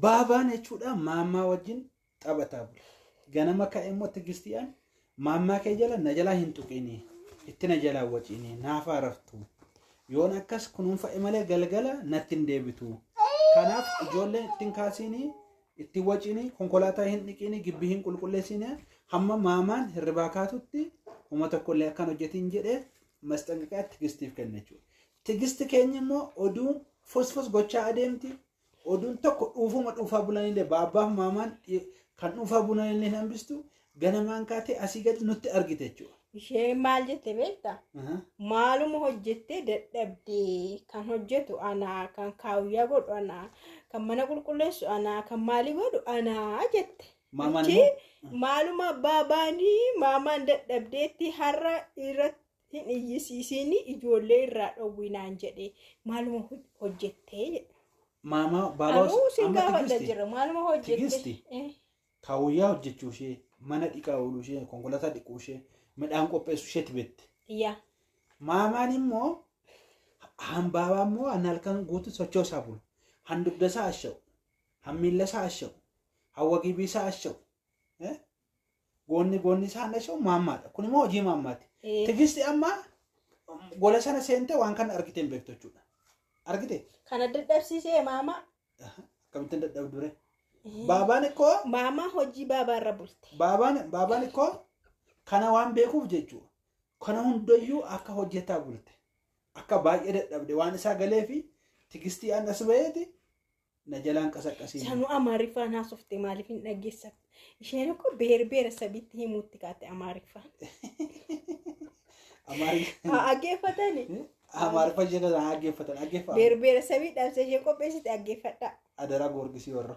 Baabaan jechuudha maammaa wajjin taphataa bule. Ganama ka'e immoo tigistiyaan maammaa kee jala na jalaa hin tuqini. Itti na jalaa waciini naaf haaraftu. Yoon akkas kunuunfa'e malee galgala natti hin deebitu. Kanaaf ijoolleen ittiin kaasiini ittiin waciini konkolaataa hin dhiqiini gibbii hin qulqulleessiine hamma maamaan hirribaa kaatutti homa tokkollee akkan hojjetiin jedhee masxanqaqaa tigistiif kenna jechuudha. Tigisti keenya immoo oduu fosfos gochaa adeemti. Oduun tokko dhuufuma dhuufaa bulanillee baabbaaf maamaan dhi- kan dhuufaa bulanillee hin hambistu. Ganamaan kaatee asii gadi nutti argite jechuudha. Isheen maal jette beekta? Aha. Maaluma hojjettee dadhabdee kan hojjetu anaa, kan kaawuyyaa godhu anaa, kan mana qulqulleessu anaa, kan maalii godhu anaa jette. Maamaan Achi immoo? maaluma abbaa baanii maamaan dadhabdeetti har'a irratti hin iyyisiisiini ijoollee irraa dhowwii naan jedhe maaluma hoj- hojjettee jedha. Maamaa baabaa Anuu osoo- sin amma gaafadha tigisti jira maaluma hojjette. Tigisti. Eh, kaawuyyaa hojjechuu ishee mana dhiqaa ooluu ishee konkolaataa dhiquu ishee midhaan qopheessu isheetti beekte. Yaa Maamaan immoo hambaabaa immoo an halkan guutuu sochoosaa bulu. Han dugdasaa asha'u. Han miillasaa asha'u. Han wagibiisaa asha'u. Eh? Goonni goonni isaa hannachuun maammaadha. Kun immoo hojii maammaati. Ee. Tigisti amma gola sana seentee waan kana argitee hin beektu jechuudha. Argite? Kana dadhabsiisee maama. Akkamittiin dadhabdure? Baabaan ikkoo Maama hojii baabaa irra bulte. baabaan baabaan ikkoo kana waan beekuuf jechuudha. Kana hundayyuu akka hojjetaa bulte. Akka baay'ee dadhabde waan isaa galee fi tigistii annas baheeti na jalaan qasaqqasiin. Sanu Amaariffaan haasofte maaliif hin dhageessan? Isheen akkoo beer beera sabiitti himuutti kaate Amaariffaan. Amaariffaan. Haa dhaggeeffatani. Amaariffaan ishee kana dhaggeeffatan dhaggeeffatan. Beer beera sabii dhaamsa ishee qopheessite dhaggeeffadhaa. Adaraa goorgisii warra.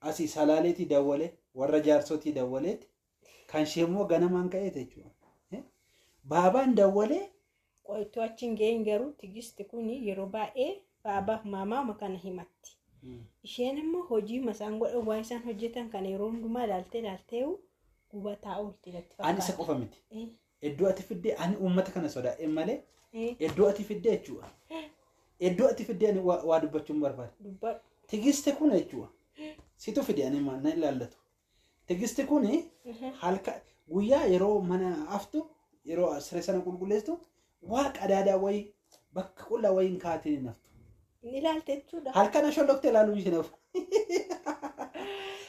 asi salaaleeti dawwale warra jaarsotii dawwaleeti kan ishee immoo ganamaan ka'eeti jechuudha. Eh, Baabaan dawwalee Qoytuu achi hin ga'iin garuu tigisti kun yeroo baay'ee baabaaf maamaama kana himatti. Isheen immoo hojii masaan godhan waan isaan hojjetan kana yeroo hundumaa ilaaltee ilaaltee gubataa oolti natti ani isa fakkaata. qofa miti. Eh, Iddoo ati fiddee ani uummata kana sodaadheen malee Eh, iddoo ati fiddee jechuudha. Iddoo ati fiddee ani waa waa dubbachuun barbaada. dubbadhu. Tigiste kun jechuudha. Situ fide ani ma- na ilaallatu. Tigiste kun halka guyyaa yeroo mana aftu yeroo siree sana qulqulleessitu waa qadaadaa wayii bakka qullaa wayiin kaatee hin haftu. Inni ilaalte jechuudha. Halkan asholloftee ilaaluu isheen hafu.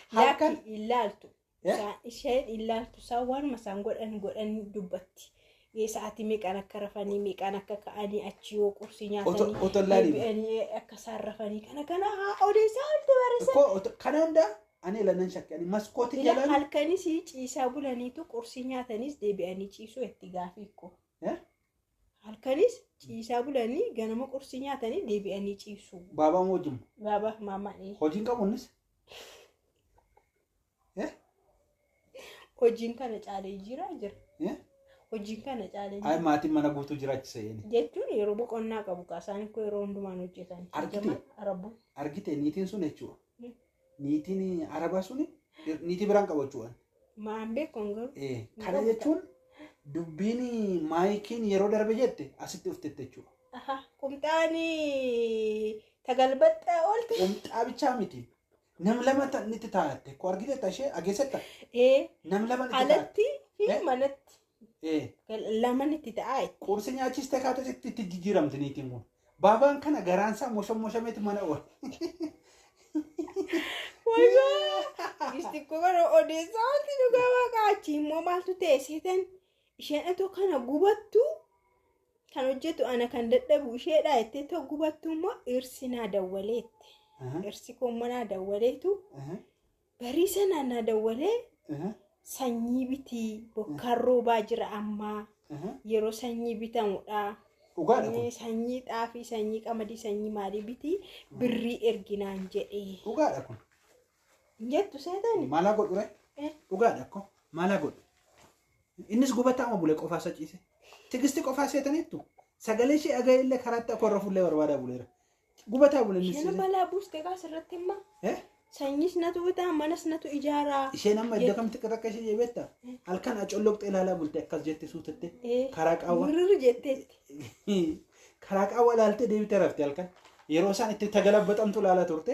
Halkan Laakki ilaaltu. Isaa- ishee ilaaltu isaa waanuma isaan godhan godhan dubbatti. Ee, Sa'aatii meeqaan akka rafanii meeqaan akka ka'anii achi yoo qursii Oto- nyaatanii oto hin laaliin. deebi'anii akka isaan rafanii kana kana haa odeessaa olti barreessan. Ko oto- kana hunda ani ilanan shakke ani maskootii Ila jalaan halkanis ciisaa bulaniitu qursii nyaatanis deebi'anii ciisuu itti gaafii ko. Eh? Halkanis ciisaa bulanii ganama qursii nyaatanii deebi'anii ciisuu. baabaan wajjin Baabaa maamaan ee. hojiin qabuunis Eh? Hojiin kana caalee jira jira. Eh? Hojiin kana caalee Ay jira. maatiin mana guutuu jiraachisa jedhani. Jechuun yeroo boqonnaa qabu kaa isaan koo yeroo hundumaan hojjetan. Argite? Arabbu. Argite niitiin sun jechuudha. Mm. Niitiin arabaa sun niitii biraan qabachuudhaan. Maan beekuun garuu. Eh, Kana jechuun dubbiin maayikiin yeroo darbe jette asitti dhuftetti jechuudha. Aha. Qumxaanii tagalbaxxaa oolte. Qumxaa bichaa miti. Nam lama ta- nitti taa'atte. Ko argiteetta ishee ageessetta. Ee, Nam lama nitti taa'atte. alatti fi Eh? manatti Ee. laman itti ta'a. Qursi nyaachistee kaates itti itti jijjiiramti niitiin kun. Baabaan kana garaansaa moshamoshameeti mana oole. Wayyaa! Gisti koo bara odeessaa wanti dhugaa waaqaa achi immoo maaltu ta'e seetan isheen otoo kana gubattu Kan hojjetu ana kan dadhabu isheedha jettee too gubattu immoo dhirsi naa dawwaleette. Aha, Dhirsi koo immoo naa dawwaleetu aha, barii sanaa naa dawwalee aha, sanyii bitii bokkaan roobaa jira ammaa aha. yeroo sanyii bitamudha. Dhugaadha Eh, kun. Sanyii xaafii, sanyii qamadii, sanyii maalii bitii birrii erginaan jedhee. Dhugaadha kun. Hin jettu seetani? Maalaa godhu ree? Eh. Dhugaadha kun. Maalaa godhu? Innis gubataama bule qofaa isa ciise. Tigisti qofaa seetaniittu sagalee ishee dhaga'ee illee karaatti akka warra fuullee barbaadaa buleera. Gubataa bule innis Isheen ciise. balaa buuste kaa asirratti immoo Eh? sanyiis natu bitaa manas natu ijaaraa. Isheen amma iddoo kamitti akka takka ishee jeebeetta? Halkan acolloqxee ilaalaa bulte akkas jette suutatte. Eh, Karaa qaawwa. Wirri jetteetti. Karaa qaawwa ilaaltee deebitee rafte halkan. Yeroo isaan itti tagalabbaxamtu ilaalaa turte.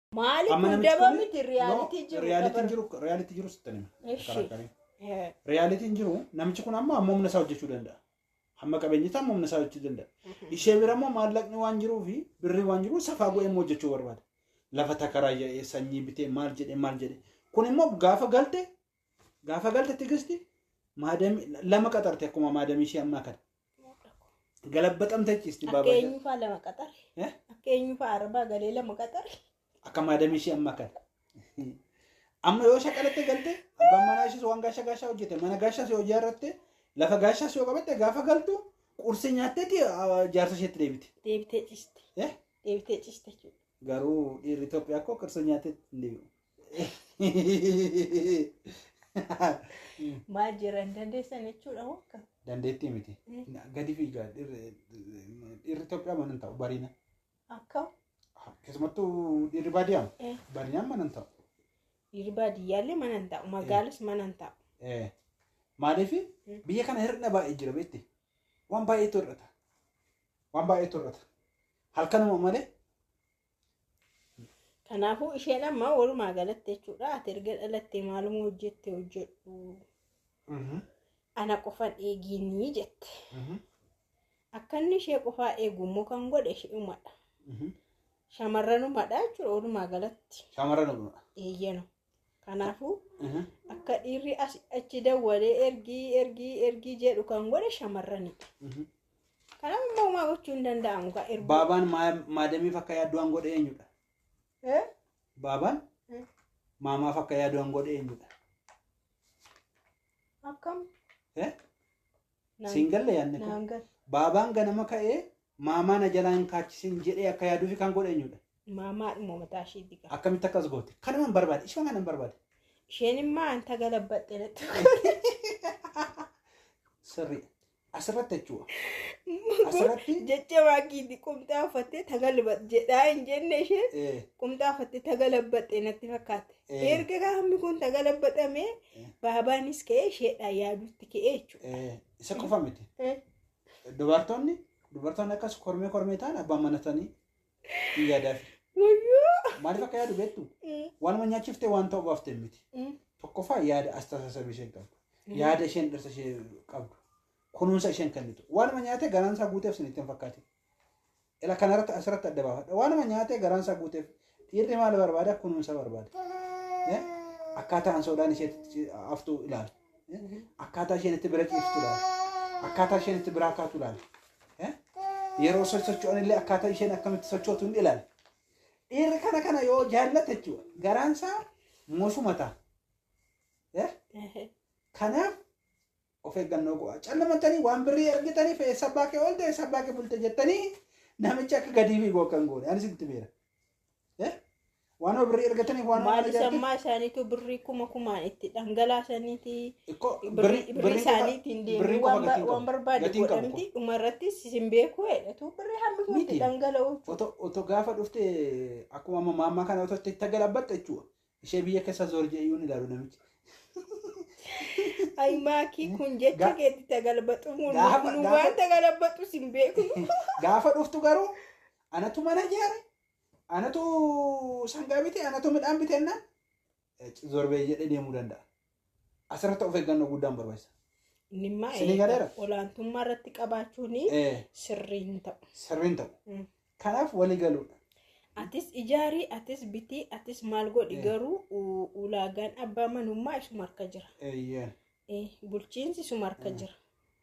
Maali Amma kun namichi daba kun- miti No, riyaalitii jiru. realitiin dabar- jiru realitii jiru sitti nima. Ishi. Karaakkarii. Eh, Realitiin jiru namichi kun amma amma humna isaa hojjechuu danda'a. Hamma qabeenyi isaa amma humna isaa hojjechuu danda'a. Ishee bira immoo maallaqni waan jiruu fi birri waan jiru safaa godhee immoo hojjechuu barbaada. Lafa takaraayyaa'ee sanyii bitee maal jedhee maal jedhee. Kun immoo gaafa galte Gaafa galte tigisti maadamii lama qaxarte akkuma maadamii ishee ammaa kana. Galabbaxamtee ciisti Akka baabaa. eenyufaa lama qaxare. Eh? Akka eenyufaa arbaa galee lama qaxare. Akka maadamii ishee ammaa kana. Amma yoo shaqalatte galte abbaan manaa ishees waan gaasha gaashaa hojjete mana gaashaas yoo ijaarratte lafa gaashaas yoo qabatte gaafa galtu qursii nyaatteeti ah, jaarsa isheetti deebite. Deebitee ciste. Eh? Deebitee ciste jechuudha. Garuu dhiirri Itoophiyaa koo qursii nyaatteetti hin deebi'u. Maal jiran dandeessan jechuudha moo akka? Dandeettii miti. Gadi fiigaa dhirri dhirri Itoophiyaa mana hin taa'u bariina. Akka Keessumattuu dhirri baadiyyaa Eh. bariinaan mana hin taa'u. dhiirri baadiyyaallee mana hin taa'u magaalas mana hin taa'u. Eh, Maaliif Mm. biyya kana hir'ina baay'ee jira beekti. Waan baay'eetu hir'ata. Waan baay'eetu hir'ata. Halkanuma malee Kanaafuu isheen amma walumaa galatti jechuudha ati erga dhalattee maaluma hojjette hojjedhu Mhm. ana qofan eegiinii jette. Mhm. Akka inni ishee qofaa eegu immoo kan godhe isheedhumadha. Mhm. Shamarranumadha jechuudha walumaa galatti Shamarran dhuguma. eeyyanu. Kanaafuu akka dhiirri as achi dawwalee ergii ergii ergii jedhu kan godhe shamarranidha. Kanaaf immoo homaa gochuu hin danda'amu gaa erguu. Baabaan maa- maadamiif akka yaaddu waan godhe eenyudha? Eh? Baabaan Eh. maamaaf akka yaadu waan godhe eenyudha? Akkam Eh? Naan- Siin galle yaadni kun. naan gal- Baabaan ganama ka'ee maamaa na jalaa hin kaachisin jedhee akka yaaduufi kan godhe eenyudha? maamaa dhimma mataa isheetti qaba. Akkamitti akkas goote? Kanuman barbaade. Ishuma kanan barbaade. Isheen immoo anta galabbaxxe natti Sirrii. Asirratti jechuudha. Asirratti jecha waaqiitti qumxaa uffattee tagalbat jedhaa hin jenne isheen eh, qumxaa uffattee tagalabbaxxe natti fakkaate. Erga qaamni kun tagalabbaxame baabaanis ka'ee isheedhaan yaaduutti ka'ee jechuudha. Eh, Isa qofa miti. Eh. Dubartoonni dubartoonni akkas kormee kormee ta'an abbaan manatanii hin yaadaaf. Wayyoo! Maaliif akka yaadu beektu? Mm, Waanuma nyaachifte waan ta'u baafte miti. mm, Tokkoffaa yaada astaasasabii isheen qabdu. Yaada isheen dhirsa ishee qabdu. Kunuunsa isheen kennitu. Waanuma nyaate garaan isaa guuteef sinitti hin fakkaate. Ila kanarratti asirratti adda baafadha. Waanuma nyaatee garaan isaa guuteef dhiirri maal barbaada kunuunsa barbaada. Eh? Akkaataa ansoodhaan ishee itti haftu ilaali. Eh? Akkaataa isheen itti bira ciiftu ilaali. Akkaataa isheen itti biraa kaatu ilaali. Eh? Yeroo so- socho'an illee akkaataa isheen akkamitti sochootu hin ilaali. Dhiirri kana kana yoo jaallate jechuudha garaan isaa mosuma ta'a. Eh? Kanaaf Of eeggannoo go'aa. Callamattanii waan birrii argitaniif eessa abbaa kee oolte eessa abbaa kee bulte jettanii namichi akka gadii fiigu akka hin goone. Anis itti beera. Eh? Waan of birrii argataniif waan of Maali argataniif. sammaa isaaniitu birrii kuma kumaan itti dhangalaasaniiti. Ikkoo Birrii birrii isaaniitiin deemuu birrii qofa waan ba- gatiin waan qabu. barbaade Gatiin qabu godhamti. Dhuma irratti isin beekuu jedhatu birrii hammi kun itti Miti. dhangala'u. Oto oto gaafa dhufte akkuma amma maammaa kana oto itti itti galabatte jechuudha. Ishee biyya keessa zoor jedhee iyyuu ni ilaalu namichi. Ay maakii kun jecha Ga- keetti tagalbaxu mun Gaafa- nu gaafa- waan tagalbaxu sin beeku. Gaafa dhuftu garuu anatu mana ijaare, anatu sangaa bite, anatu midhaan bite jennaan zoor bee jedhee deemuu danda'a. Asirratti of eeggannoo guddaan barbaachisa. Inni immaa Isin eegaa galeera? olaantummaa irratti qabaachuun Eh, sirrii hin ta'u. Sirriin ta'u. Mm. Kanaaf walii galuudha. Atis ijaarii, atis bitii, atis maal godhi Eh. garuu u- ulaagaan abbaa manummaa isuma harka jira. Eeyyeen. Eh, Bulchiinsi isuma harka jira.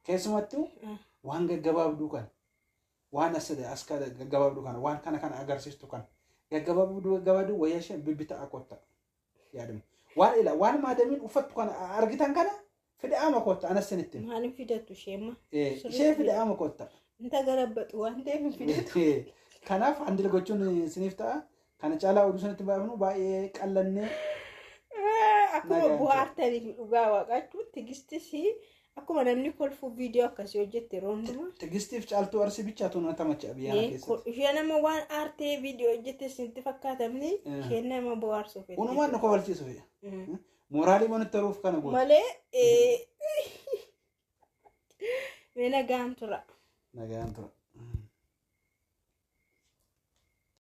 Keessumattuu Ah. waan gaggabaabduu kana waan as as kana gaggabaabduu kana waan kana kana agarsiistu kana gaggabaabduu gaggabaabduu wayyaa ishee bibbita akotta. yaadame. Waan ila waan maadamiin uffattu kana argitan kana fida'ama kootta anas sinitti. hima. Maaliin fidattu isheemma? Eh, Sirriitti Ishee fidatu. fida'ama kootta. Inta galabbatu waan ta'eef hin fidatu. Eh, Kanaaf handila gochuun siniif ta'a. Kana caalaa oduu sanitti baafnu baay'ee qallannee Akkuma Nagaan bu'aartaniif dhugaa waaqachuun tigistis Akkuma namni kolfuu viidiyoo akkasii hojjette yeroo hundumaa. Tigistiif caaltuu arsii bichaa tuun atamacha biyyaa Ee, ko- keessatti. Ishee nama waan aartee viidiyoo hojjette isinitti fakkaatamni Eh. isheen nama bohaarsu feete. Unumaan nu kofalchiisu fe'a. Mm. Mooraalii mana taruuf kana goota. Malee ee, mee nagaan tura. Nagaan tura.